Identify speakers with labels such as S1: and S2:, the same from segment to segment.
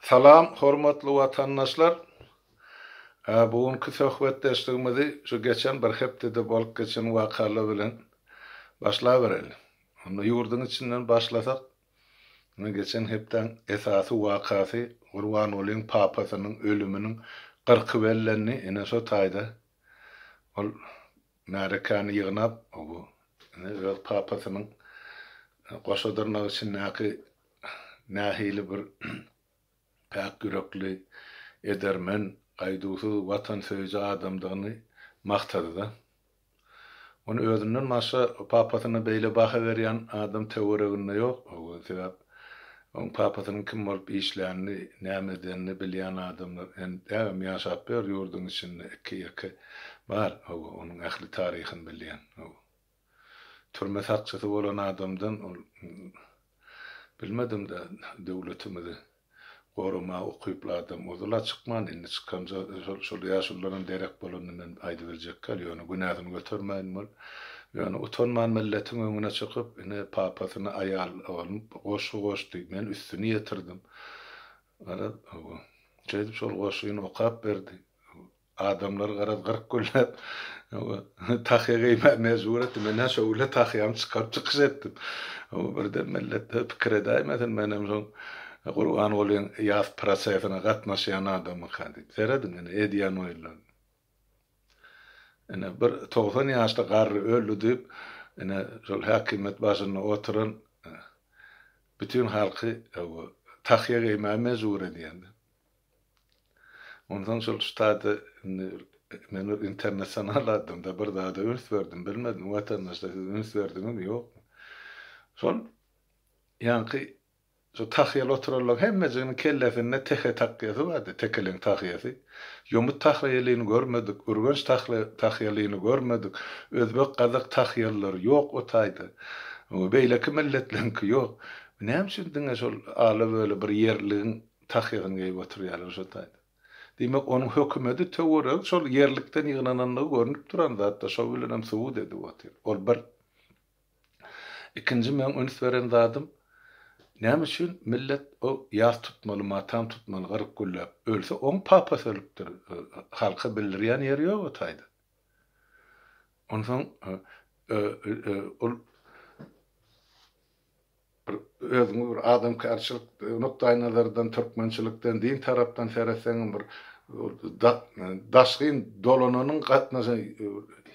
S1: Salam hormatly watandaşlar! Bu günki söhbetdeşligimizi şu geçen bir hepdede bolup geçen wakalar bilen başlabereli. Onda ýurduň içinden başlasak, ine geçen hepdäň esasy wakasy Gurbangulyň papasynyň ölüminiň gyrky bellendi. Ine şo taýda ol märekäni ýygnap, bu ine öz papasynyň goşa dyrnak içindäki nähili bir päk ýürekli, edermen, gaýduwsyz, watansöýüji adamdygyny magtady-da. Ony özünden başga papasyna beýle baha berýän adam töwereginde ýok, sebäp oň papasynyň kim bolup işlänini, näme edenini bilýän adamlar däbem ýaşap biler ýurduň içinde, iki-ýeke bar, onuň ähli taryhyny bilýän. Türme sakçysy bolan adamdan ol bilmedim-de döwletimizi goramaga ukyply adam ozal-a çykman indi çykanja şol ýaşulularam derek bolanda men aýdyberjekkäl ýöne günäsini götermäýin bol ýöne utanman milletiň öňüne çykyp ine papasyna aýal alnyp goşgy goşdy men üstüni ýetirdim garaz şeýdip şol goşgyny okap berdi Adamlar garaz gyryk gürläp tahýa geýmäge mejbur etdi. Men-ä şo gürle tahýamy çykaryp çykyş etdim. Birden millet pikir edäýmesin, menem şoň Gurbangulyň ýas prosesine gatnaşýan adamyka diýip. Serediň ine edýän oýunlaryna. Ine bir togsan ýaşly garry öldi diýip, ine şol häkimiýet başynda oturan bütin halky tahýa geýmäge mejbur edýän. Onsoň şol ştada indi men bir internasional adam-da, bir zada üns berdim, bilmedim, watandaşlar siz üns berdiňizmi, ýokmy? Şol ýaňky şu tahýaly oturanlaryň hemmejiginiň kellesinde tehe takýasy bardy, tekeleň tahýasy. Ýomut tahýalyny görmedik, ürgenç tahýalyny görmedik, özbek, gazak tahýalylary ýok o taýda. Beýleki milletleriňki ýok. Näme üçin diňe şol ala-böle bir ýerligiň Tahygyny geýip oturýarlar şo taýda. Diýmek, onuň hökümedi töweregi şol ýerlikden ýygnanandygy görnüp duran zat-da, şo bilenem subut edip otyr. Ol bir. Ikinji meň üns beren zadym, näme üçin millet o ýas tutmaly, matam tutmaly, gyryk gülläp, ölse, oň papasy ölüpdir, halka bildirýän ýeri ýok o taýda. Onsoň, ol. Bir özüňi bir adamkärçilik nukdaýnazardan, türkmençilikden, din tarapdan seretseňem bir daşgyn dolananyň gatnaşan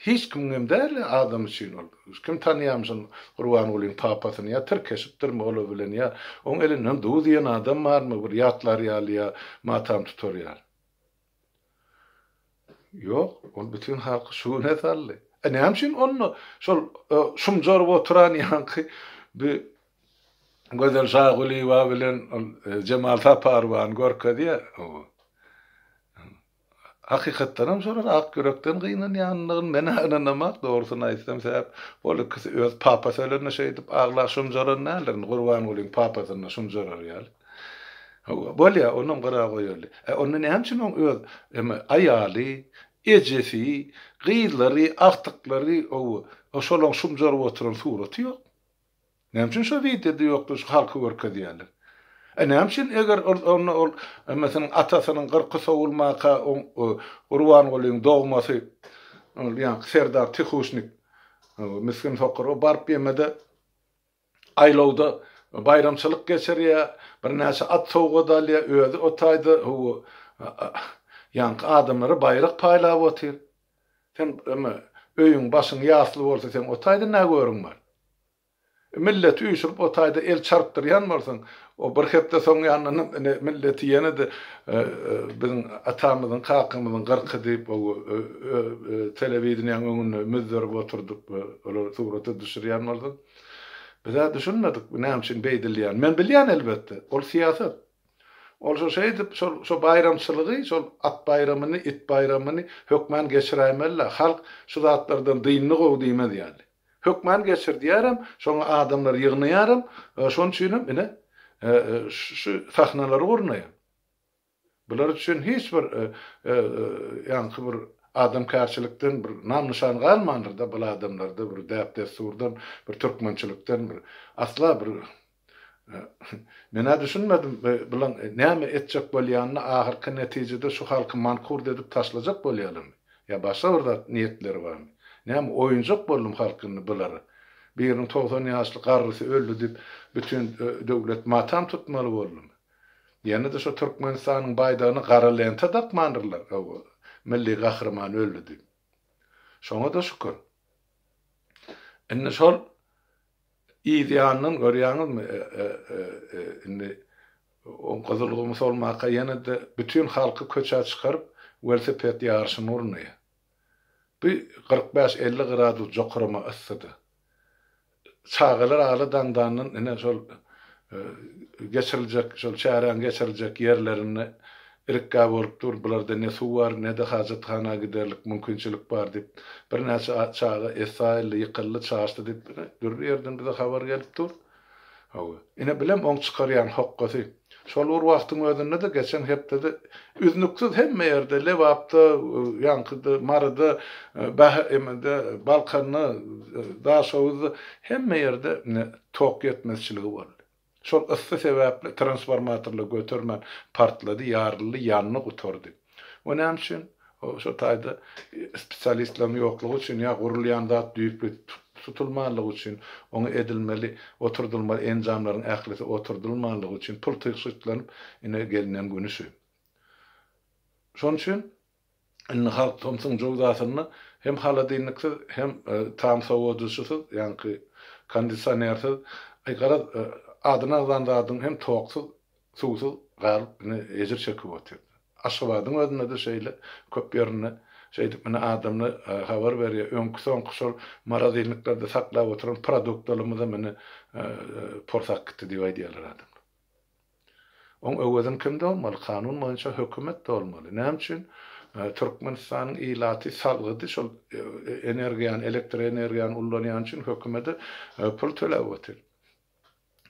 S1: hiç kimiň hem däl adam üçin ol. Kim tanýamyşyn Gurbangulyň papasyny ýa tirkeşipdirmi ol bilen ýa oň elinden duz iýen adam barmy bir ýatlar ýaly ýa matam tutar ýaly. Ýok, ol bütin halky şu güne saldy. E näme üçin onda şol şumjaryp oturan ýaňky bi Gözel Şagulyýewa bilen ol Jemal Saparowany görkezýär? Hakykatdan hem şolar ak ýürekden gynanýandygyny men-ä ynanamak, dogrusyny aýtsam, sebäp ol ikisi öz papasy ölende şeýdip agla şumjaran däldir, indi Gurbangulyň papasyna şumjarar ýaly. Hawa, bolýa, onam gyra goýaly. Ä onda näme üçin oň öz eme aýaly, ejesi, gyzlary, agtyklary, owo, o şolaň şumjaryp oturan suraty ýok? Näme üçin şo wideoda ýokdur, şu halka görkezýäler? Ä näme üçin eger ol onda ol emesiniň atasynyň gyrky sowulmaka oň o Gurbangulyň dogmasy ol ýaňky Serdar Tihuşnik, owo, misgin sokur, o baryp ýemede, aýlawda baýramçylyk geçirýär, birnäçe at sowgat alýar, özi o taýda ýaňky adamlara baýrak paýlap otyr. Sen indi öýüň, başyň ýasly bolsa, seň o taýda nä görüň bar? Milleti üýşürip, o taýda el çarpdyrýan bolsaň, O bir hepde soň ýandan hem ine milleti ýene-de biziň atamyzyň, kakamyzyň gyrky diýip o telewideniýäň öňünde müzzerip oturdyp olary surata düşürýän bolsa, biz-ä düşünmedik bu näme üçin beýdilýänini. Men bilýän elbetde, ol syýasat. Ol şo şeýdip, şol şo baýramçylygy, şol at baýramyny, it baýramyny hökmän geçiräýmeli-ä. Halk şu zatlardan dyndy gowy diýmez ýaly. Hökman geçirdýärin, şoňa adamlary ýygnaýaryn, şonuň üçinem ine, şu sahnalary gurnaýan. Bular üçin hiç bir ýaňky bir adamkärçilikden bir nam-nyşan galmandyr-da bul adamlarda, bir däp-dessurdan, bir türkmençilikden bir asla bir Men-ä düşünmedim, bulan näme etjek bolýanyny, ahyrky netijede şu halky mankurt edip taşlajak bolýalamy? Ýa başga bir zat niýetleri barmy? Näme, oýunjak boldum halk indi bulara? Biriniň togsan ýaşly garrysy öldi diýip, bütin döwlet matam tutmaly boldumy? Ýene-de şu Türkmenistanyň baýdagyna gara lenta dakmandyrlar, hawa, milli gahryman öldi diýip. Şoňa-da şükür. Indi şol Yz ýandan görýäňizmi, indi o gyzylgum solmaka ýene-de bütin halky köçä çykaryp, welosiped ýaryşyny urny. Bu kyrk bäş, elli gradus jokarama yssydy. Çagalar aly daňdandan ine şol geçiriljek, şol çäräň geçiriljek ýerlerinde Irikgä bolup dur, bularda ne suw bar, ne-de hajathana giderlik mümkinçilik bar diýip, birnäçe çaga essaýyldy, ýykyldy, çaşdy diýip, ine, dürli ýerden bize habar gelip dur. Hawa, ine, bilem, oň çykarýan hokgasy. Şol bir wagtyň özünde-de, geçen hepdede üznüksiz hemme ýerde, Lebapda, ýaňkyda, Maryda, BHM-de, Balkanda, Daşoguzda, hemme ýerde tok ýetmezçiligi boldy. Şol yssy sebäpli transformatorlar götermän partlady, ýaryldy, ýandy, gutardy. O näme üçin? O şo taýda spesialistleriň ýoklugy üçin ýa gurulýan zat düýpli tutulmanlygy üçin, oňa edilmeli, oturdylmaly enjamlaryň ählisi oturdylmanlygy üçin pul tygşytlanyp ine gelnen güni şu. Şonuň üçin Indi halk tomsuň jöwzasynda hem holodilniksiz, hem tam sowadyjysyz, ýaňky kondisionersiz, aý, garaz, adyny agzan zadyň hem toksuz, suwsuz galyp, indi ejir çekip otyr. Aşgabadyň özünde-de şeýle, köp ýerinde şeýdip, indi adamlar habar berýär, öňki-soňky şol morozilniklerde saklap oturan produktlarymyzam indi porsakgitdi diýip aýdýarlar adamlar. Oň öwezini kim dolmaly? Kanun boýunça hökümet dolmaly. Näme üçin Türkmenistanyň ilaty salgydy şol energiýany, elektr energiýany ullanýany üçin hökümede pul töläp otyr?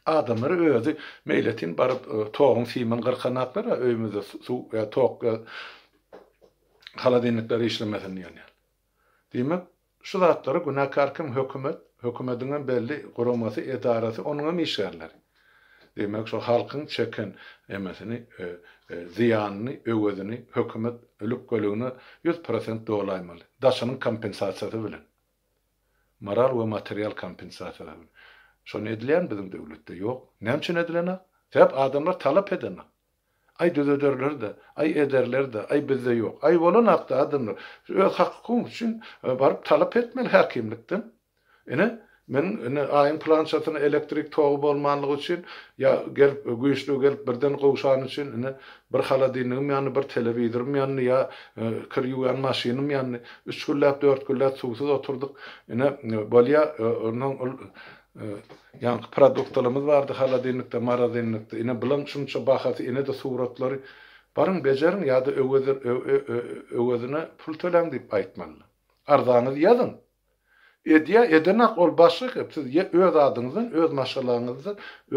S1: Adamlar özi meýletin baryp toguň simini gyrkanaklar a öýümizde suw ýa tok ýa holodilnikler işlemesin diýen ýaly. Diýmek Şu zatlary günäkär kim hökümet, hökümediňem belli guramasy, edarasy, onuňam işgärleri. Diýmek şo halkyň çeken emesini, zyýanyny, öwezini hökümet lükgeligine ýüz prosent dolaýmaly. Daşynyň kompensasiýasy bilen. Moral we material kompensasiýasy bilen. Şony edilýärmi biziň döwletde? Ýok. Näme üçin edilenok? Sebäp adamlar talap edenok. Aý düzederler-de, aý ederler-de, aý bizde ýok. Aý bolan hakda adamlar öz hakyň üçin baryp talap etmeli häkimlikden. Ine, meniň ine aýyň pylançasyna elektrik togy bolmanlygy üçin ýa gelip güýçlügi gelip birden gowşany üçin ine bir holodilnigim ýandy, bir telewizorym ýandy ýa kir ýuwýan maşynym ýandy. Üç günläp, dört günläp suwsuz oturdyk. Ine bolýar, onsoň ol Ýaňky produktalarymyz bardy holodilnikde morozelnikde ine bulaň şunça bahasy inede suratlary baryň bejeriň ýada öwezine pul töläň diýip aýtmaly arzanyzy ýazyň edýä edenak ol başga gep siz ýa öz adyňyzdan öz maşgalaňyzda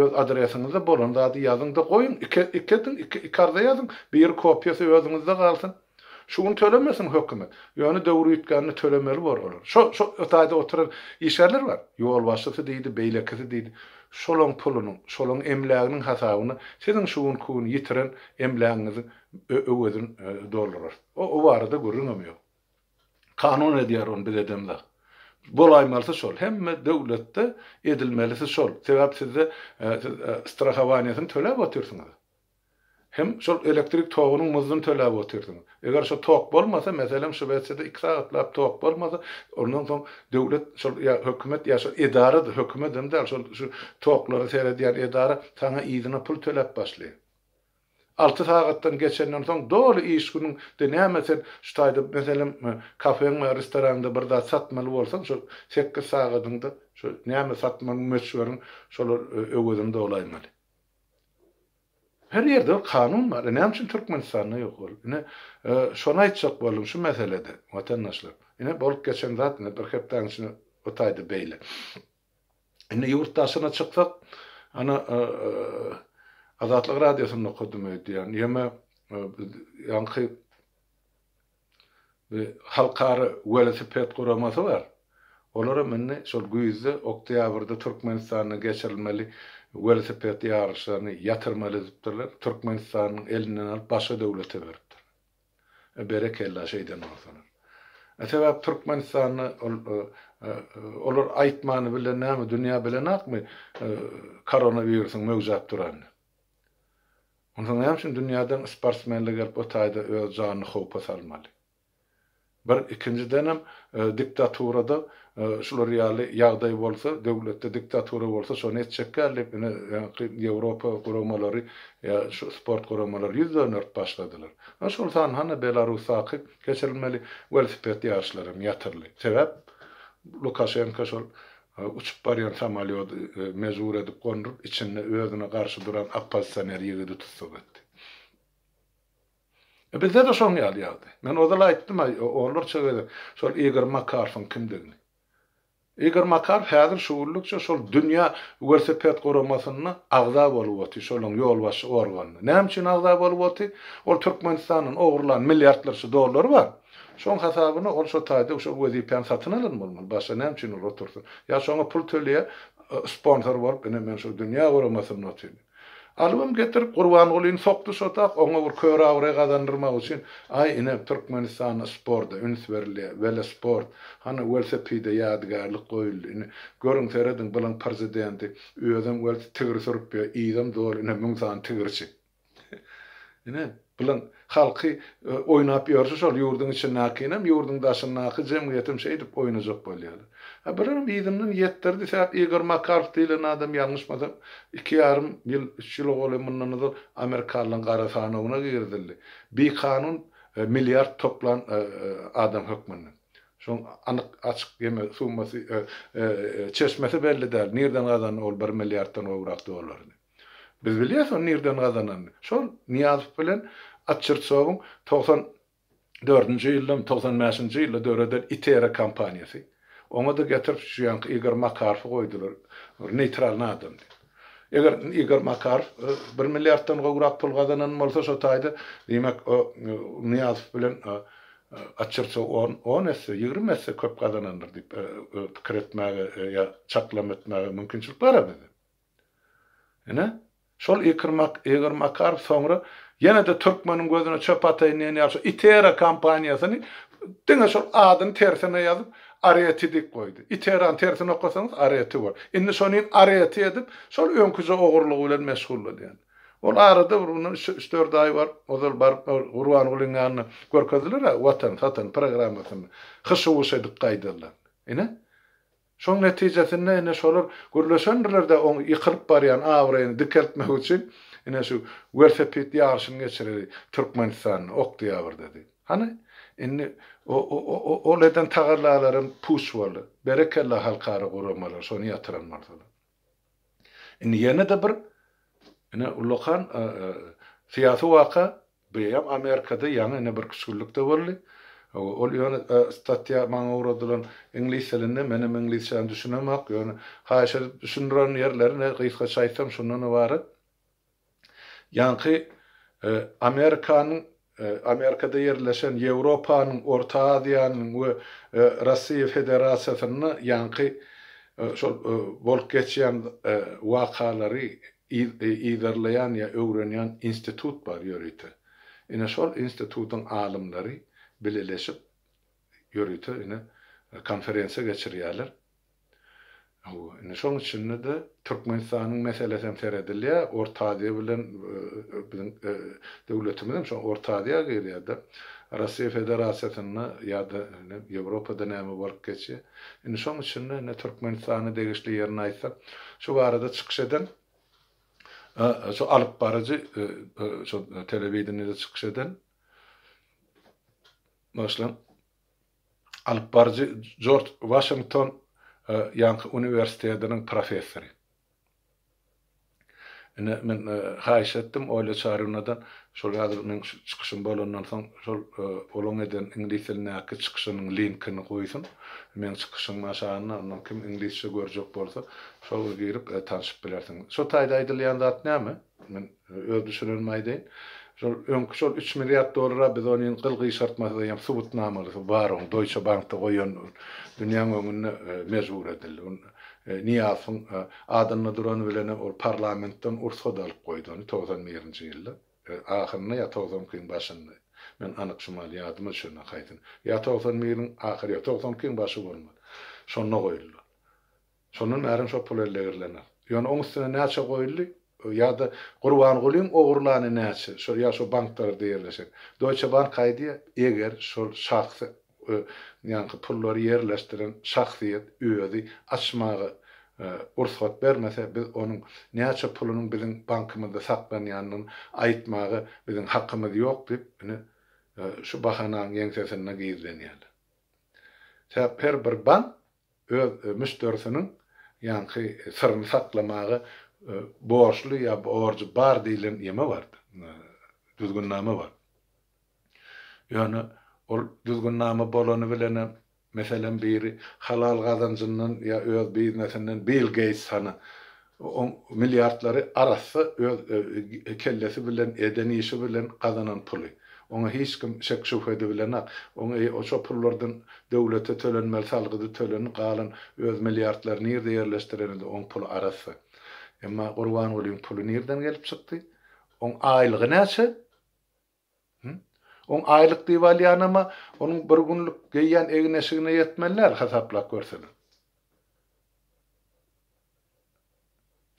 S1: öz adresiňizde bolan zady ýazyňda goýuň iki iki ediň iki iki arza ýazyň biri kopiýasy özüňizde galsyn. Şu gün tölemesin hökümet. Ýöne döwür üýtgände tölemeli bor olar. Şo, şo taýda oturan işgärler bar. Ýolbaşçysy diýdi, beýlekisi diýdi. Şolaň pulunyň, şolaň emläginiň hasabyna siziň şu günki gün ýitiren emlägiňiziň öwezini doldurarys. O, o barada gürrüňem ýok. Kanun edýär ony, biz edemzok. Bolaýmalysy şol. Hemme döwletde edilmelisi şol. Sebäp sizde, siz strahowaniýasyny töläp otyrsyňyz. Hem şol elektrik togunyň muzdyny töläp otyrsyňyz. Eger şo tok bolmasa, meselem, Şwesiýada iki sagatlap tok bolmasa, ondan soň döwlet, şol ýa hökümet, ýa şol edara-da, hökümedem däl, şol şu toklara seredýän edara saňa yzyna pul töläp başlaýar. Alty sagatdan geçenden soň doly iş günüň de näme sen şu taýda, meselem, kafeňde ýa restoranyňda bir zat satmaly bolsaň, şo sekiz sagadyňda şo näme satmagyň möçberiň şolar öwezini dolaýmaly. Her ýerde bir kanun bar. E näme üçin Türkmenistanda ýok ol? Ine, şony aýtjak boldum şu meselede, watandaşlar. Ine, bolup geçen zat ine bir hepdäniň içinde bu taýda beýle. Indi ýurt daşyna çyksak, ana, Azatlyk radiosynda okadym öýdýän. Ýeme, ýaňky Bir halkara welosiped guramasy bar. Olaram indi şol güýzde, oktýabrda Türkmenistanda geçirilmeli welosiped ýaryşlaryny ýatyrmaly edipdirler. Türkmenistanyň elinden alyp başga döwlete beripdir. E, berekella şeýden bolsalar. E, sebäp Türkmenistanda ol olar aýtmany bile näme dünýä bilenakmy koronawirusyň möwjäp duranyny. Onda näme üçin dünýäden sportsmenler gelip bu taýda öz janyny howpa salmaly? Bir ikinjidenem diktaturada şular ýaly ýagdaý bolsa, döwletde diktatura bolsa şony etjekler diýip ine ýaňky Ýewropa guramalary ýa şu sport guramalary ýüz dönderip başladylar. Ine şol sanda hany Belarusdaky geçirilmeli welosiped ýaryşlaram ýatyrly. Sebäp Lukaşenka şol Uçup barýan samolýody mejbur edip gonduryp, içinde özüne garşy duran oppozisioner ýigidi tussag etdi. Bizde-de şoň ýaly ýagdaý. Men ozal aýtdym-a, onlarça gezek şol Igor Makarowyň kimdigini. Igor Makarow häzir şu günlükçe şol dünýä welosiped guramasynda agza bolup otyr, şolaryň ýolbaşçy organynda. Näme üçin agza bolup otyr? Ol Türkmenistandan ogurlan milliardlarça dollary bar. Şoň hasabyna ol şo taýda şo wezipäni satyn alan bolmaly, başga näme üçin ol otursyn? Ýa şoňa pul töleýär, sponsor bolup, ine men şo dünýä guramasynda otyryn. Alybam getirip Gurbangulyny sokdy şo tak, oňa bir kör abraý gazandyrmak üçin, aý ine Türkmenistanda sporda üns berilýär, welosport, hany welosipede ýadygärlik goýuldy, ine görüň serediň bylyň prezidenti özem welosi tigir sürüp ýör, yzam doly ine müň sany tigirçik. Ine, bilen halky oýnap ýörşi şol ýurduň içindäkinem, ýurduň daşyndaky jemgyýetem şeýdip oýnajak bolýalar. A birem yzyndan ýetdirdi sebäp Igor Makarow diýlen adam ýalňyşmasam iki ýarym ýyl, üç ýyl ogly mundan ozal amerikalylaryň gara sanawyna girizildi. Bikanun milliard toplan adam hökmünde. Şoň anyk açyk ýeme summasy çeşmesi belli däl. Nirden gazandy ol bir milliarddan gowrak dolary. Biz bilýäs ony nirden gazananyny. Şol Nyýazow bilen Atçyrtsowyň togsan dördünji ýyldamy, togsan bäşinji ýylda döreden Itera kompaniýasy. Oňa-da getirip şu ýaňky Igor Makarowy goýdular. Bir neýtralnyý adamdy. Eger Igor Makarow bir milliarddan gowrak pul gazanan bolsa şo taýda, diýmek, Nyýazow bilen Atçyrtsow on, on esse, ýigrimi esse köp gazanandyr diýip pikir etmäge ýa çaklama etmäge mümkinçilik bar-a bizde. Ine, şol Ikirmak, Igor Makarow soňra ýene-de türkmeniň gözüne çöp ataýyn diýen ýaly şu Itera kompaniýasyny diňe şol adyny tersine ýazyp Areti diýip goýdy. Iterany tersine okasaňyz Areti bor. Indi şonin Areti edip şol öňküje ogurlygy bilen meşgullanýan. Ol arada bir mundan üç-dört aý bar, ozal baryp Gurbangulyň ýanyna görkezdiler-ä Watan, satan programmasyny hyş-huş edip gaýdanlaryny. Ine, Şoň netijesinde ine şolar gürleşendirler-de oň ýykylyp barýan abraýyny dikeltmek üçin ine şu welosiped ýaryşyny geçireli Türkmenistanda, oktýabrdady. Hany, indi o-o-o-o-ol eden tagallalaram puç boldy. Berekella halkara guramalar şony ýatyran bolsalar. Indi ýene-de bir ine ullakan syýasy waka, bu ýam Amerikada ýaňy ine bir küşgürlikde boldy. Ol ýöne statýa maňa ugradylan iňlis dilinde, menem iňlisçäni düşünemok, ýöne haýyş edip düşündiren ýerleri ine gysgaça aýtsam şundan ybarat. Ýaňky Amerikanyň Amerikada ýerleşen Ýewropanyň, Orta Aziýanyň we Russiýa Federasiýasynda ýaňky şol bolup geçýän wakalary yzarlaýan ýa öwrenýän institut bar ýörite. Ine şol institutyň alymlary bileleşip ýörite ine konferensiýa geçirýärler. Hawa, indi şoň içinde-de Türkmenistanyň meselesem seredilýär, Orta Aziýa bilen biziň döwletimizem şo Orta Aziýa girýär-de. Russiýa Federasiýasynda ýa-da indi Ýewropada näme bolup geçýär. Indi şoň içinde indi Türkmenistana degişli ýerini aýtsak, şu barada çykyş eden şu alyp baryjy şu telewideniýede çykyş eden, bagyşlaň, alypbaryjy Jorj Waşington ýaňky uniwersitediniň professory. Ine, men haýyş etdim Olýa Çarynadan, şol häzir meň şu çykyşym bolandan soň, şol olaň eden iňlis dilindäki çykyşynyň linkini goýsun. Meň çykyşym aşagynda, ondan kim iňlisçe görjek bolsa, şol girip, tanşyp bilersiň. Şo taýda aýdylýan zat näme? Men öz düşünenimi aýdaýyn. Şol öňki şol üç milliard dollara biz ony indi gyl-gyşartmasyz eýýäm subutnamalysy bar oň Doýçe bankda goýan dünýäň öňünde mejbur edildi. Ol Nyýazowyň adynda durany bilen ol parlamentden ursat alyp goýdy ony togsan birinji ýylda ahyrynda ýa togsan ikiň başynda. Men anyk şumal ýadyma düşende haýsyny ýa togsan biriň ahyry ýa togsan ikiň başy bolmaly. Şonda goýuldy. Şondan bärem şo pul elde girilener. Ýöne oň üstüne näçe goýuldy? Ýa-da Gurbangulyň ogurlany näçe? Şo ýa şo banklarda ýerleşen. Doýçe bank aýdýa, eger şol şahs ö nýanky pullary ýerleşdiren şahsyýet özi açmaga ö rugsat bermese, biz onuň näçe pulunyň biziň bankymyzda saklanýanyny aýtmaga biziň hakymyz ýok diýip, ine, ö şu bahananyň ýeňsesinde gizlenýärler. Sebäp her bir bank öz müşderisiniň ýaňky syryny saklamaga borçly ýa borjy bar diýlen ýeme bar, düzgünnama bar. Ýöne ol düzgünnama bolany bilenem, meselem biri halal gazanjyndan ýa öz biznesinden Bill Geýts hany Oň milliardlary arassa öz kellesi bilen, eden işi bilen gazanan puly. Oňa hiç kim şek-şübhe edibilenak. Oň eý, şo pullardan döwlete tölenmeli salgydy tölenip galan öz milliardlary nirde ýerleşdirenede oň puly arassa. Emma Gurbangulyň puly nirden gelip çykdy? Oň aýlygy näçe? On aýlyk diýip alýanam-a, onuň bir günlük geýýän egin-eşigine ýetmeli däl, hasaplap görsene.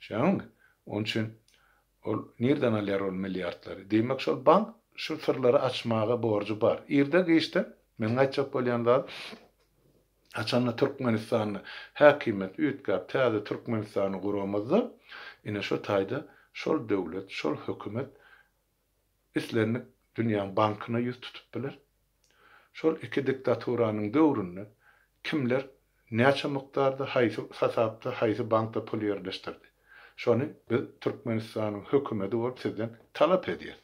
S1: Düşýäňmi? Onuň üçin ol nirden alýar ol milliardlary? Diýmek, şol bank şu syrlary açmaga borjy bar. Irde-giçde, meniň aýtjak bolýan zadym, haçanda Türkmenistanda häkimiýet üýtgäp, täze Türkmenistany guramyzda, ine, şo taýda şol döwlet, şol hökümet islendik dünýäň bankyna ýüz tutup biler. Şol iki diktaturanyň döwründe kimler näçe mukdarda, haýsy hasapda, haýsy bankda pul ýerleşdirdi? Şony biz Türkmenistanyň hökümedi bolup sizden talap edýäs.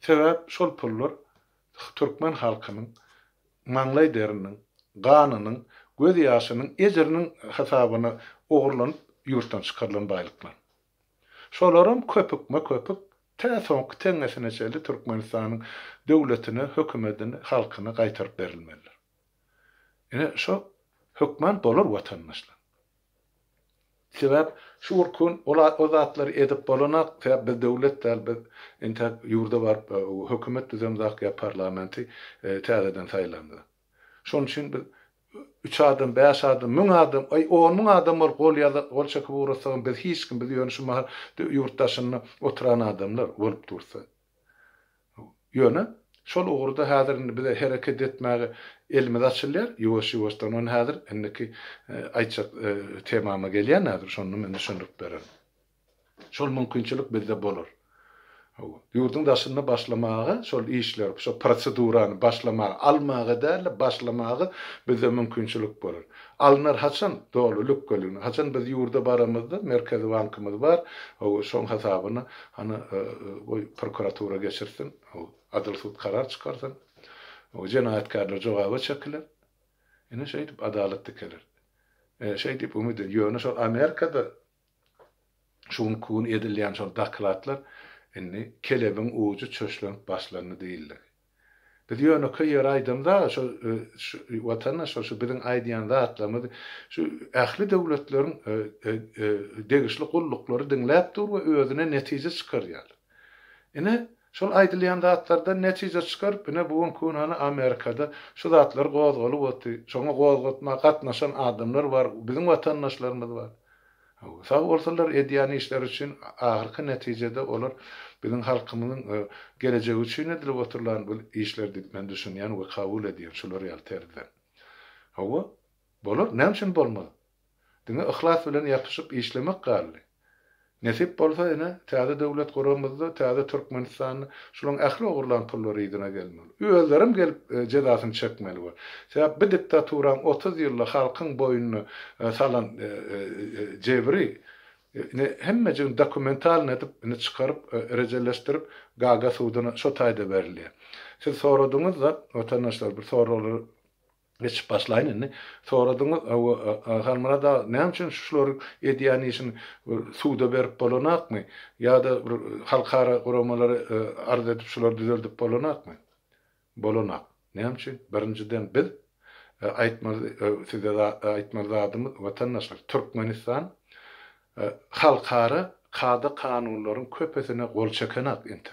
S1: Sebäp şol pullar türkmen halkynyň maňlaý deriniň, ganynyň, göz ýaşynyň, ejiriniň hasabyna ogurlanyp ýurtdan çykarylan baýlyklar. Şolaram köpükme-köpük tä soňky teňňesine çenli Türkmenistanyň döwletine, hökümedine, halkyna gaýtaryp berilmelidir. Ine, şo hökman bolar watandaşlar. Sebäp şu gurkun ol o zatlary edip bolanak, sebäp biz döwlet däl, biz entäk ýurda baryp hökümet düzemzak ýa parlamenti täzeden saýlamzak. Şonuň üçin biz üç adam, bäş adam, müň adam, aý, on müň adam bolup gol ýazyp, gol çekip ugrasagam biz hiç kim, biz ýöne şu mahal ýurt daşynda oturan adamlar bolup dursa. Ýöne şol ugurda häzir indi bize hereket etmäge elimiz açylýar, ýuwaş-ýuwaşdan ony häzir indiki aýtjak temama gelýän häzir, şonda men düşündirip bererin. Şol mümkinçilik bizde bolar. Hawa. Ýurduň daşynda başlamaga şol işleri, şol prosedurany başlamaga, almaga däl-de, başlamaga bizde mümkinçilik bolar. Alnar haçan? Doly lükgeligine. Haçan biz ýurda baramyzda, Merkezi bankymyz bar, hawa, şoň hasabyna, hany, goý, prokuratura geçirsin, hawa, adyl sud karar çykarsyn. Hawa, jenaýatkärler jogaba çekiler. Ine, şeýdip adalat dikeler. E, şeý diýip umyt edýän. Ýöne şol Amerikada Şu günki gün edilýän şol dokladlar indi kelebiň ujy çöşlenip başlandy diýildigi. Biz ýönekeý ýeri aýdamyz-a, şol Watana şol şu biziň aýdýan zatlarymyz şu ähli döwletleriň degişli gulluklary diňläp dur we özüne netije çykarýarlar. Ine, şol aýdylýan zatlardan netije çykaryp, ine, bu günki gün hany Amerikada şu zatlar gozgalyp otdy, şoňa gozgatma gatnaşan adamlar bar, biziň watandaşlarymyz bar. Hawa, sag bolsunlar edýän işleri üçin, ahyrky netijede olar biziň halkymyzyň gelejegi üçin edilip oturylan bir işler diýip men düşünýän we kabul edýän şular ýaly terzden. Hawa, bolar, näme üçin bolmaz? Diňe yhlas bilen ýapyşyp işlemek galdy. Nesip bolsa ine, täze döwlet guramyzda täze Türkmenistanda şulaň ähli ogurlan pullary yzyna gelmeli. Özlerem gelip jezasyny çekmeli bor. Sebäp bi diktaturaň otuz ýylda halkyň boýnuna salan jebri ine hemmejigini dokumentalny edip ine çykaryp rejeleşdirip Gaga suduna şo taýda berilýär. Siz soradyňyzda watandaşlar bir soraglar Geçip başlaýyn indi. Soradyň Halmyrat aga näme üçin şulary edýän işin suda berip bolanakmy? Ýada bir halkara guramalara arz edip şulary düzeldip bolanakmy? Bolanak. Näme üçin? Birinjiden biz aýtmaly size aýtmaly zadymyz watandaşlar Türkmenistan halkara kada kanunlaryň köpesine gol çekenak entek.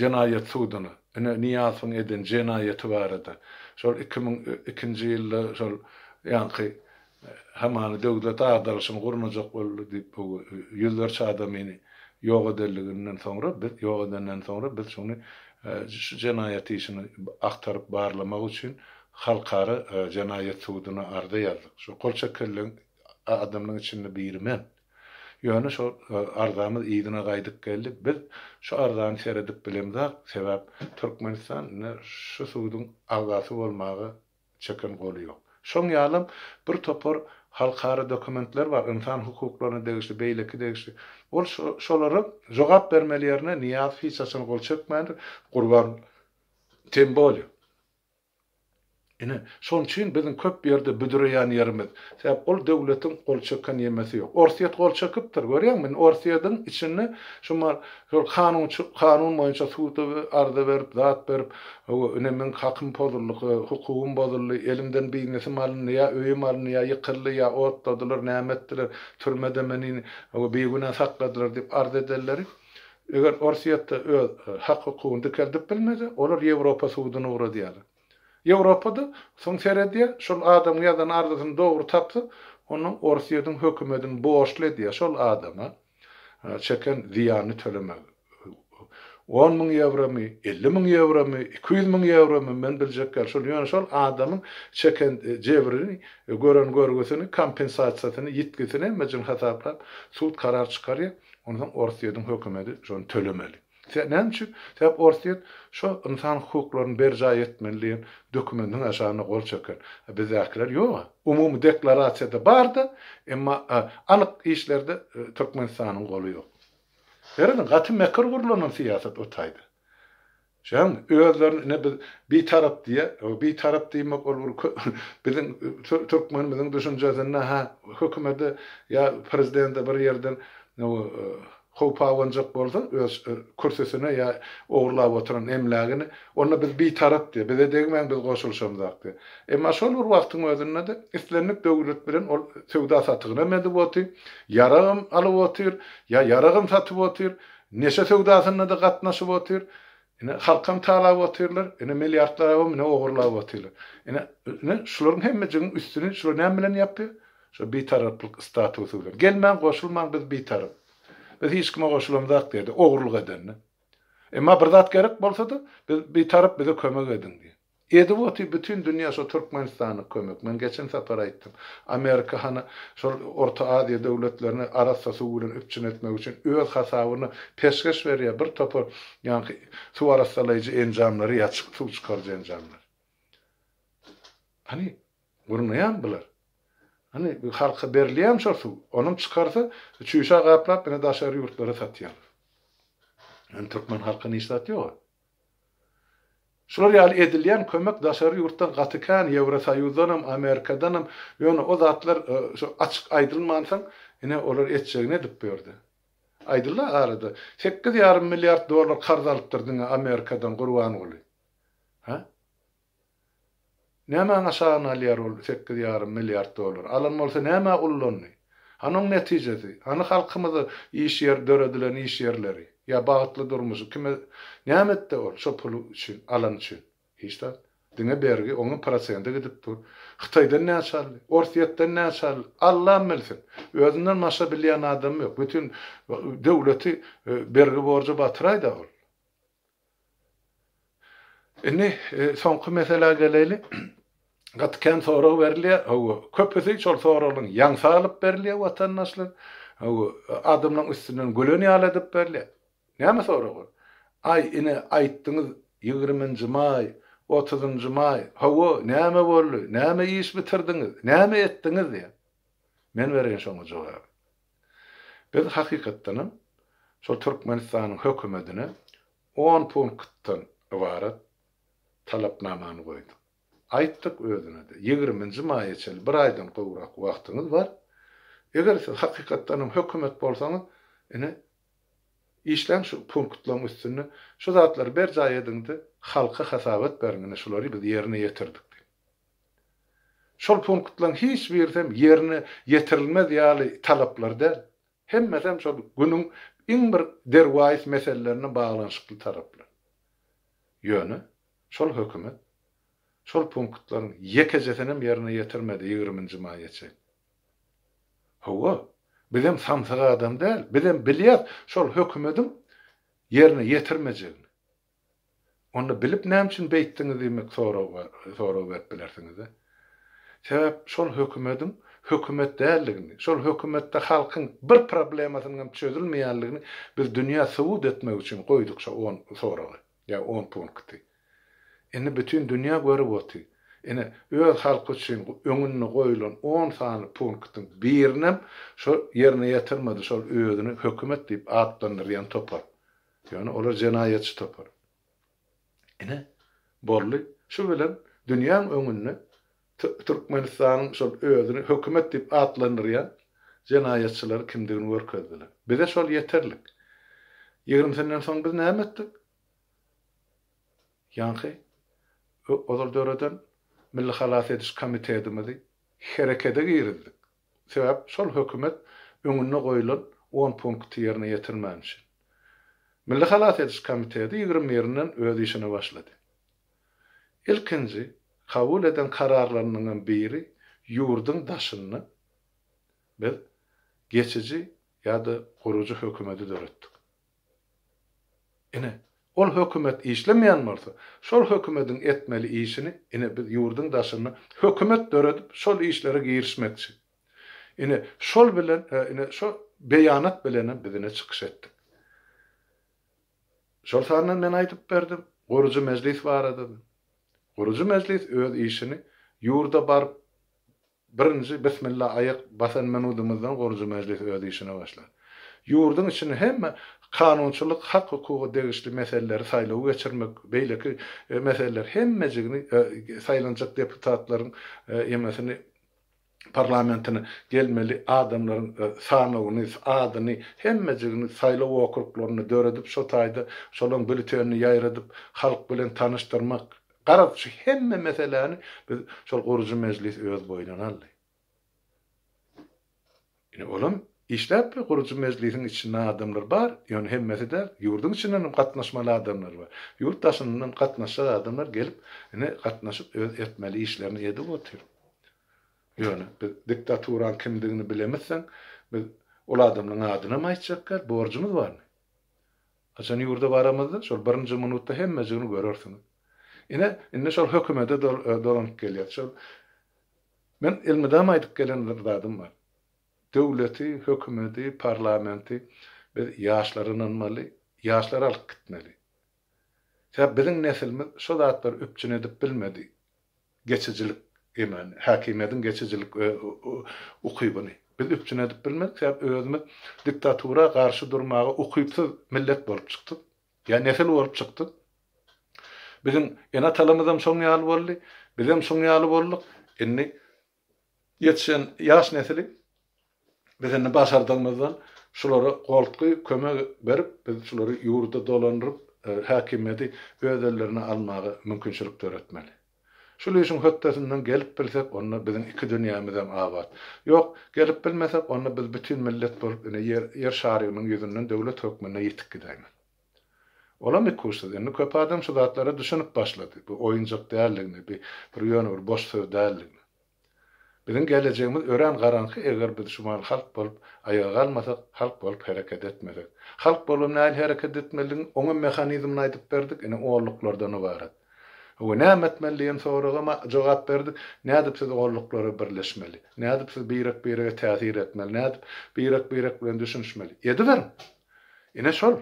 S1: jenaýat suduna, ine, Nyýazowyň eden jenaýaty barada, şol iki müň ikinji ýylda şol ýaňky hamany döwlet agdaryşyny gurnajak boldy diýip, bu ýüzlerçe adamyny ýok edenliginden soňra, biz ýok edenden soňra biz şuny şu jenaýat işini agtaryp barlamak üçin Halkara jenaýat suduna arza ýazdyk. Şo gol çekilen adamlaryň içinde biri men. Ýöne şo arzamyz yzyna gaýdyp geldi. Biz şu arzany seredip bilemzok, sebäp Türkmenistan indi şu suduň agzasy bolmaga çeken goly ýok. Şoň ýalam bir topar halkara dokumentler bar, ynsan hukuklaryna degişli, beýleki degişli. Ol şo şolara jogap bermeli ýerine Nyýazow hiç haçan gol çekmändir, Gurban tem bolýa. Ine, şonuň üçin biziň köp ýerde büdüreýän ýerimiz, sebäp ol döwletiň gol çeken ýemesi ýok. Orsýet gol çekipdir, görýäňmi? Indi Orsýetiň içinde şumal şol kanunçy, kanun boýunça suda arza berip, zat berip, hawa, ine, meniň hakym pozuldy, ha, hukugym bozuldy, elimden biznesim alyndy, ýa öýüm alyndy, ýa ýykyldy, ýa otladylar, näme etdiler, türmede meni, hawa, bigünä sakladylar diýip arz edenleri. Eger Orsýetde öz hak-hukugyny dikeldip bilmese, olar Ýewropa suduny ugradýarlar. Ýewropa-da soň seredýär, şol adamyň ýazan arzysyny dogry tapsa, onda Orsýetiň hökümedini borçly edýär şol adama çeken zyýanyny tölemegi. On müň ýewromy, elli müň ýewromy, iki ýüz müň ýewromy, men biljek däl. Şol, ýöne şol adamyň çeken jebrini, gören görgüsini, kompensasiýasyny, ýitgisini hemmejini hasaplap, sud karar çykarýar. Onsoň Orsýetiň hökümeti şony tölemeli. Se näme üçin? Sebäp Orsýet şo ynsan hukuklaryny berjaý etmeli diýen dokumentiň aşagynda gol çeken. A bizdäkiler ýog-a. Umumy deklarasiýada bar-da, emma anyk işlerde Türkmenistanyň goly ýok. Serediň, gaty mekir gurlanan syýasat o taýda. Şoň özlerini ine biz bitarap diýýä. O bitarap diýmek ol bir biziň türkmenimiziň düşünjesinde ha hökümede ýa prezidende bir ýerden howp abanjak bolsa öz kürsüsine ýa ogurlap oturan emlägini onda biz bitarap diýýä. Bize degmäň biz goşulyşamzak diýýä. Emma şol bir wagtyň özünde-de islendik döwlet bilen ol söwda satygynam edip otyr, ýaragam alyp otyr, ýa ýaragam satyp otyr, Neşe söwdasynda-da gatnaşyp otyr. Ine, halkam talap otyrlar. Ine, milliardlarabam ine ogurlap otyrlar. Ine, ine, şularyň hemmejigiň üstüni şular näme bilen ýapýar? Şo bitaraplyk statusy bilen. Gelmäň, goşulmaň, biz bitarap. Biz hiç kime goşulamzak diýýärdi, ogurlyk edende. Emma bir zat gerek bolsa-da, biz bitarap, bize kömek ediň diýýär. Edip oty bütin dünýä şo Türkmenistana kömek. Men geçen sapar aýtdym. Amerika hany şol Orta Aziýa döwletlerini arassa suw bilen üpjün etmek üçin öz hasabyna peşgeş berýär bir topar ýaňky suw arassalaýjy enjamlary ýa suw çykaryjy enjamlary. Hany gurnaýamy bular? Hany halka berilýämi şol suw? Onam çykarsa çüýşä gaplap ine daşary ýurtlara satýarlar. Ýöne türkmen halka niş zat ýoga. Şular ýaly edilýän kömek daşary ýurtdan gaty kän, Ýewrosoýuzdanam, Amerikadanam, ýöne o zatlar şo açyk aýdylmansoň, ine olar etjegini edip börde. Aýdylda arada, sekiz ýarym milliard dollar karz alypdyr diňe Amerikadan Gurbanguly. Hä? Nämäň aşagyny alýar ol sekiz ýarym milliard dollar? Alan bolsa nämä ullandy? Hany oň netijesi? Hany halkymyza iş ýer döredilen iş ýerleri? Ýa bagtly durmuşy kime näme etdi ol şo puly üçin alan üçin? Hiç zat. Diňe bergi oňa prosende gidip dur. Hytaýdan näçe aldy? Orsýetden näçe aldy? Allam bilsin. Özünden başga bilýän adamy ýok. Bütin döwleti bergi borja batyraýda ol. Indi soňky meselä geleýli. Gaty kän sorag berilýär. Hawa, köpüsi şol soraglaryň ýaňsy alyp berilýär watandaşlar. Hawa, adamlaryň üstünden gülen ýaly edip berilýär. Näme sorag ol? Aý, ine, aýtdyňyz, ýigriminji maý, otuzynjy maý, hawa, näme boldy, näme iş bitirdiňiz, näme etdiňiz diýýär. Men bereýin şoňa jogaby. Biz hakykatdanam şol Türkmenistanyň hökümetine on punktdan ybarat talapnamany goýduk. Aýtdyk özüne-de, ýigriminji maýa çenli bir aýdan gowrak wagtyňyz bar. Eger siz hakykatdanam hökümet bolsaňyz, ine, işläň şu punktlaryň üstünde, şu zatlary berjaý ediň-de, halka hasabat beriň, ine, şulary biz ýerine ýetirdik diýip. Şol punktlaryň hiç birisem ýerine ýetirilmez ýaly talaplar däl. Hemmesem şol günüň iň bir derwaýys meselelerine baglanyşykly talaplar. Ýöne, şol hökümet şol punktlaryň ýekejesinem ýerine ýetirmedi ýigriminji maýa çenli. Hawa, bizem samsyk adam däl, bizem bilýäs şol hökümediň ýerine ýetirmejegini. Onda bilip näme üçin beýtdiňiz diýmek sorag berip bilersiňiz-dä. Sebäp şol hökümediň hökümet däldigini, şol hökümetde halkyň bir problemasynyň hem çözülmeýänligini biz dünýä subut etmek üçin goýduk şo on soragy, ýa on punkty. Indi bütin dünýä görüp oty. Ine, öz halky üçin öňünde goýulan on sany punktyň birinem şo ýerine ýetirmedi şol özüni hökümet diýip atlandyrýan topar. Ýöne olar jenaýatçy topar. Ine, boldy. Şu bilen dünýäň öňünde Türkmenistanyň şol özüni hökümet diýip atlandyrýan jenaýatçylary kimdigini görkezdiler. Bize şol ýeterlik. Ýigrimisinden soň biz näme etdik? Ýaňky ozal döreden Milli halas ediş komitetimizi herekete girizdik. Sebäp şol hökümet öňünde goýulan on punkty ýerine ýetirmän üçin. Milli halas ediş komiteti ýigrimi birinden öz işine başlady. Ilkinji kabul eden kararlarynyňam biri ýurduň daşynda biz geçiji ýa-da gurujy hökümeti döretdik. Ine, ol hökümet işlemeýän bolsa, şol hökümediň etmeli işini, ine, biz ýurduň daşynda hökümet döredip, şol işlere girişmekçi. Ine, şol bilen, ine, şo beýanat bilenem biz ine çykyş etdik. Şol sanda men aýdyp berdim, gurujy mejlis barada-da. Gurujy mejlis öz işini ýurda baryp, Birinji Bismilla aýak basan minudymyzdan gurujy mejlis öz işine başlar. Ýurduň içinde hemme kanunçylyk, hak-hukuga degişli meseleleri, saýlawy geçirmek, beýleki meseleler hemmejigini saýlanjak deputatlaryň emesini parlamentine gelmeli adamlaryň sanawyny, adyny, hemmejigini saýlaw okruglarynda döredip şo taýda şolaryň bültenini ýaýradyp halk bilen tanyşdyrmak, Garaz, şu hemme meseläni biz şol gurujy mejlis öz boýnuna aldy. Ine, olam işläpdir, gurujy mejlisiň içinde adamlar bar, ýöne hemmesi däl, ýurduň içinden hem gatnaşmaly adamlar bar. Ýurt daşyndan gatnaşjak adamlar gelip, ine, gatnaşyp, öz etmeli işlerini edip otyr. Ýöne biz diktaturanyň kimdigini bilemizseň, biz ol adamlaryň adyny hem aýtjak däl, borjumyz barmy? Haçan ýurda baramyzda, şol birinji minutda hemmejigini görersiňiz. Ine, indi şol hökümete dolanyp gelýär. Şol Men elmydama aýdyp gelen bir zadym bar. Döwleti, hökümeti, parlamenti biz ýaşlara ynanmaly, ýaşlary alyp gitmeli. Sebäbi biziň nesilimiz şo zatlary üpjün edip bilmedi. Geçijilik emrini, häkimiýetiň geçijilik ukybyny biz üpjün edip bilmedik, sebäp özümiz diktatura garşy durmaga ukypsyz millet bolup çykdyk, ýa nesil bolup çykdyk. Biziň ene-atalarymyzam şoň ýaly boldy, bizem şoň ýaly bolduk. Indi Ýetişen ýaş nesil biz indi başardygymyzdan şulara goltgy kömek berip biz şulary ýurda dolandyryp häkimiýeti öz ellerine almaga mümkinçilik döretmeli. Şul işiň hötdesinden gelip bilsek onda biziň iki dünýämizem abat. Ýok, gelip bilmesek onda biz bütin millet bolup ine ýer şarygynyň ýüzünden döwlet hökmünde ýitip gidäýmeli. Olam ikuçsyz. Indi köp adam şu zatlara düşünip başlady. Bu oýunjak däldigini, bi bir ýöne bir boş söz däldigini. Biziň gelejegimiz örän garaňky eger biz şumal halk bolup aýaga galmasak, halk bolup hereket etmesek. Halk bolup nähili hereket etmelidigini oňam mehanizmini aýdyp berdik, indi olluklardan ybarat. Hawa näme etmeli diýen soragama jogap berdik, nädip siz olluklara birleşmeli, nädip siz birek birege täsir etmeli, nädip birek birek bilen düşünişmeli. Ediberiň! Ine şol.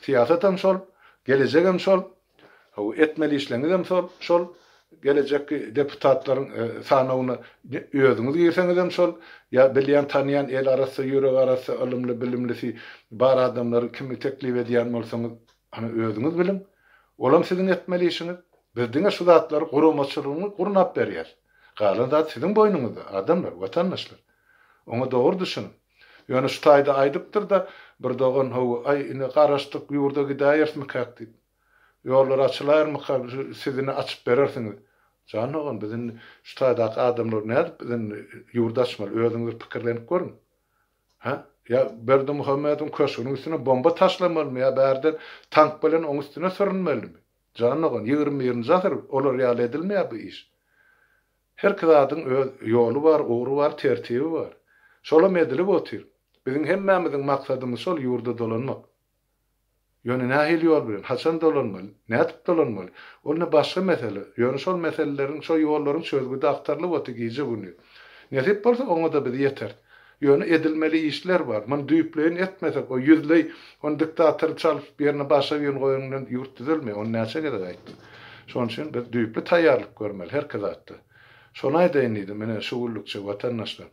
S1: Syýasatam şol, gelejegem şol, bu etmeli işleňizem şol, şol, gelejekki deputatlaryň sanawyna özüňiz girseňizem şol, ýa bilýän, tanýan, eli arassa, ýüregi arassa, ylymly, bilimlisi bar adamlary kimi teklip edýän bolsaňyz, ana özüňiz biliň. Olam siziň etmeli işiňiz. Biz diňe şu zatlary guramaçylygyňy gurnap berýäs. Galan zat siziň boýnuňyzda, adamlar, watandaşlar. Oňa dogry düşüniň. Ýöne şu taýda aýdypdyr-da, bir dogan, Hawa-aý, ine, garaşdyk, ýurda gidäýerismikäk diýip. Ýollar açylaýarmyka, siz ine açyp berersiňiz. Jan dogan, biz indi şu taýdaky adamlar nädip biz indi ýurt açmaly, özüňiz bir pikirlenip görüň. Hä? Ýa Berdimuhamediň köşgüniň üstüne bomba taşlamalymy ýa bärden tank bilen oň üstüne sürünmelimi? Jan dogan, ýigrimi birinji asyr, olar ýaly edilmeýär bu iş. Herki zadyň öz ýoly bar, ugry bar, tertibi bar. Şolam edilip otyr. Biziň hemmämiziň maksadymyz şol ýurda dolanmak. Ýöne nähili ýol bilen, haçan dolanmaly, nädip dolanmaly, ol ne başga mesele. Ýöne şol meseleleriň, şo ýollaryň çözgüdi agtarylyp otyr gije-gündiz. Nesip bolsa oňa-da biz ýeteris. Ýöne edilmeli işler bar. Muny düýpleýin etmesek, o ýüzleý, ony diktatory çalyp, ýerine başga birini goýanyňdan ýurt düzelmeýär. Ony näçe gezek aýtdym. Şonuň üçin biz düýpli taýýarlyk görmeli herki zatda. Şony aýdaýyn diýdim, ine, şu günlükçe, watandaşlar.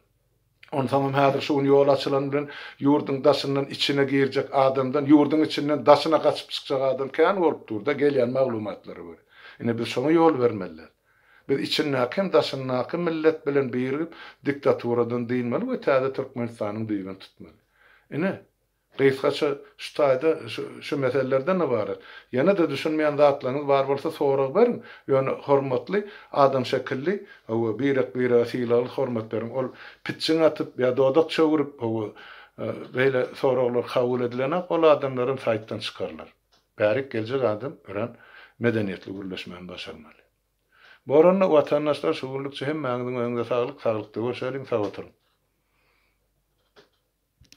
S1: Onsoňam häzir şu gün ýol açylany bilen ýurduň daşyndan içine girjek adamdan, ýurduň içinden daşyna gaçyp çykjak adam kän bolup dur-da, gelýän maglumatlara görä. Ine, biz şoňa ýol bermeliräs. Biz içindäki hem daşyndaky millet bilen birigip diktaturadan dynmaly we täze Türkmenistanyň düýbüni tutmaly. Ine, gysgaça şu taýda şu meselelerden ybarat. Ýene-de düşünmeýän zatlaryňyz bar bolsa sorag beriň, ýöne hormatly adam şekilli, hawa, birek-birege sylagly hormat beriň. Ol pitjiň atyp ýa dodak çöwürip, hawa, beýle soraglar kabul edilenak, ol adamlar hem saýtdan çykarylar. Bärik geljek adam örän medeniýetli gürleşmäni başarmaly. Bu oranda watandaşlar şu günlükçe hemmäňiziň öňüňde saglyk saglykda görşeliň sag oturyň.